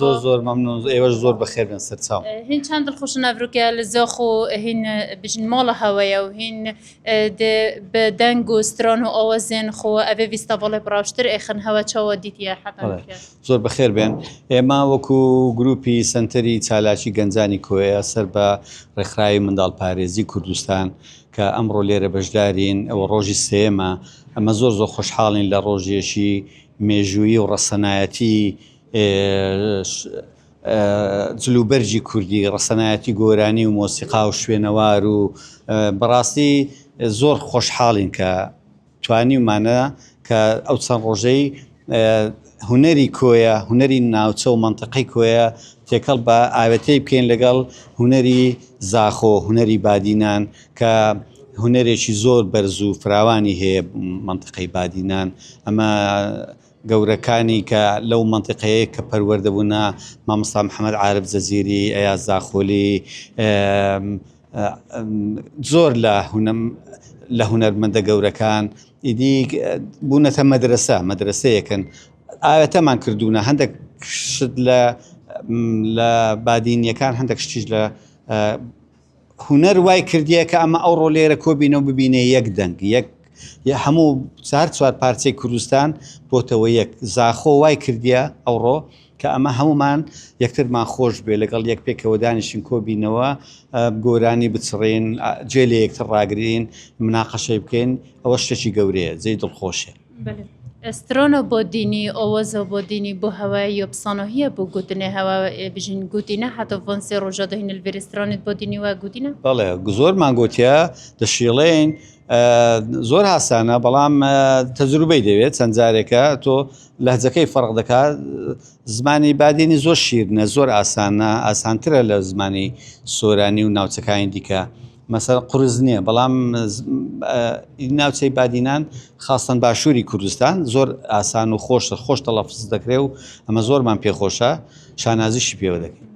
زۆر زۆر مەمنون ئێوەش زۆر بەخێر بێن سەرچاو. هین چەند دڵخوش نەڤروکە لە زۆخ و هین بژن مۆڵە هەوەیە و هین بە دەنگ و سترۆن و ئەوە زێن خۆ ئەێ ویستە بۆڵێ بڕاوشتر ئێخن هەوە چەوە دیتە حتا زۆر بەخێر بێن ئێمە وەکو گروپی سنتەری چالاکی گەنجانی کۆیە سەر بە ڕێکخراوی منداڵ پارێزی کوردستان کە ئەمڕۆ لێرە بەشدارین ئەوە ڕۆژی سێمە ئەمە زۆر زۆر خۆشحاڵین لە ڕۆژێکی مێژووی و ڕەسەنایەتی ئێش جلوبەرگی کوردی ڕەسەنایەتی گۆرانی و مۆسیقا و شوێنەوار و بەڕاستی زۆر خۆشحاڵین کە توانیومانە کە ئەو چەند ڕۆژەی هونەری کۆیە هونەری ناوچە و مەنتەقەی کۆیە تێکەڵ بە ئاوێتەی بکەین لەگەڵ هونەری زاخۆ هونەری بادینان کە هونەرێکی زۆر بەرز و فراوانی هەیە مەنتەقەی بادینان ئەمە گەورەکانی کە لەو مەنتیقەیەی کە پەروەردە بوونە مامۆستا محمد عارف جزیری ئەیاز زاخۆلی زۆر لە هونم لە هونەرمەندە گەورەکان ئیدی بوونەتە مەدرسە مەدرسەیەکن ئاوێتەمان کردوونە هەندێک شت لە لە بادینیەکان هەندێک شتیش لە هونەر وای کردیە کە ئەمە ئەوڕۆ لێرە کۆبینەو ببینە یەک دەنگ یەک یە هەموو چار چوار پارچەی کوردستان بۆتەوە یەک زاخۆ وای کردیە ئەوڕۆ کە ئەمە هەمومان یەکترمان خۆش بێ لەگەڵ یەک پێکەوە دانیشین کۆبینەوە گۆرانی بچڕین جێ لە یەکتر ڕاگرین مناقەشەی بکەین ئەوە شتێکی گەورەیە جێی دڵخۆشێ سترۆنۆ بۆدینی، ئۆوەزۆ بۆدینی بو هەوە یۆپسانۆهیە بو گوتنێ هەوە بژین گوتینە هاتۆ ڤۆن سێ ڕوژە دو هینل ڤێرێ سترۆنێت بۆدینی وە گوتینە؟ بەڵێ زۆرمان گۆتیە دەشیڵێین زۆر هاسانە بەڵام تەجروبەی دەوێت چەند جارێکە تۆ لەهجەکەی فەرق دەکات زمانی بادینی زۆر شیرنە زۆر ئاسانە ئاسانترە لە زمانی سۆرانی و ناوچەکانی دیکە مەسەلە قورس نییە، بەڵام ناوچەی بادینان خاستەن باشووری کوردستان زۆر ئاسان و خۆشتر خۆش تەڵەفز دەکرێ و ئەمە زۆرمان پێخۆشە شانازیشی پێوە دەکەین.